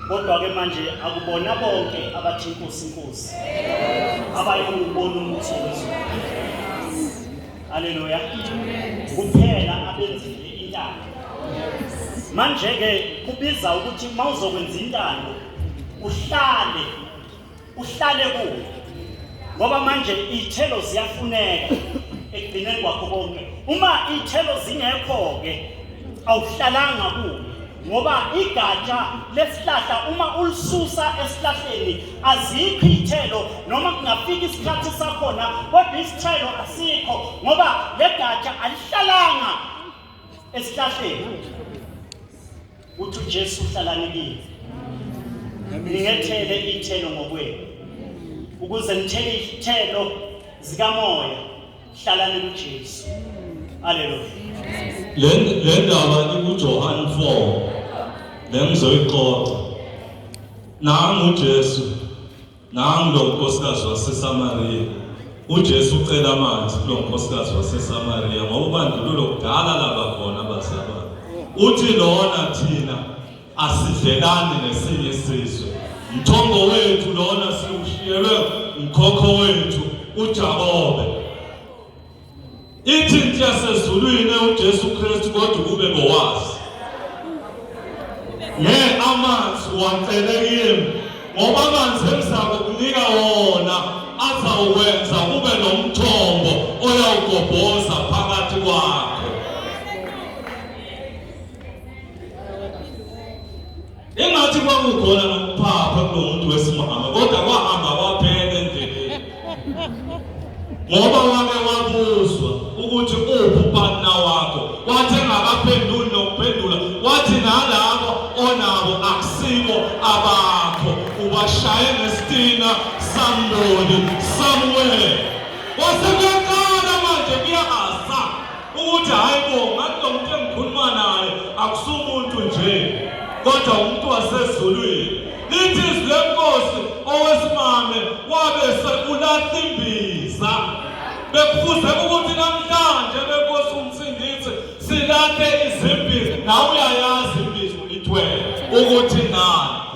Kodwa-ke manje akubona bonke abathi inkosi inkosi abayokubona umuthi wezulu. Haleluya. Kuphela abenzile intando. Manje-ke kubiza ukuthi uma uzokwenza intando uhlale uhlale kuyo ngoba manje iy'thelo ziyafuneka ekugcineni kwakho konke uma iy'thelo zingekho-ke awuhlalanga kuyo ngoba igatsha lesihlahla uma ulisusa esihlahleni azikho iy'thelo noma kungafika isikhathi sakhona kodwa isithelo asikho ngoba le gatsha alihlalanga esihlahleni Uthi uJesu uhlakaniphile. Ningethele ithelo ngokwenu. Ukuze nithele ithelo zikamoya hlalani kuJesu. Haleluya. Le le ndaba ikuJohane 4 nengizoyixoxa. Nangu uJesu Nangu lo nkosikazi waseSamariya. UJesu ucela amanzi kulo nkosikazi waseSamariya ngoba ubandlululo kudala laba khona bazalwane. Uthi lona thina asidlelani nesinye isizwe. Mthombo wethu lona siwushiyelwe mkhokho wethu uJakobe. Ithinti yasezulwini uJesu Kristu kodwa kube ngowazi. Ne amanzi wacele kimi ngoba amanzi engizakukunika wona azawukwenza kube nomthombo oyawugobhoza phakathi kwakho. Engathi kwakukhona nokuphapha kulomuntu wesimame kodwa kwahamba kwaphela endleleni. Ngoba wake wabuzwa ukuthi uphi upartner wakho. Wathi engakaphenduli nokuphendula wathi nalabo onabo akusibo abakho. Ubashaye ngesitina samboni somewhere. Wase ukuthi hayi bo ngathi lo muntu engikhuluma naye akusumuntu nje kodwa umuntu wasezulwini lithi izwi lenkosi owesimame wabe sekulahla imbiza bekufuze ukuthi namhlanje benkosi umsindisi silahle izimbiza nawe uyayazi imbiza ulithwele ukuthi nani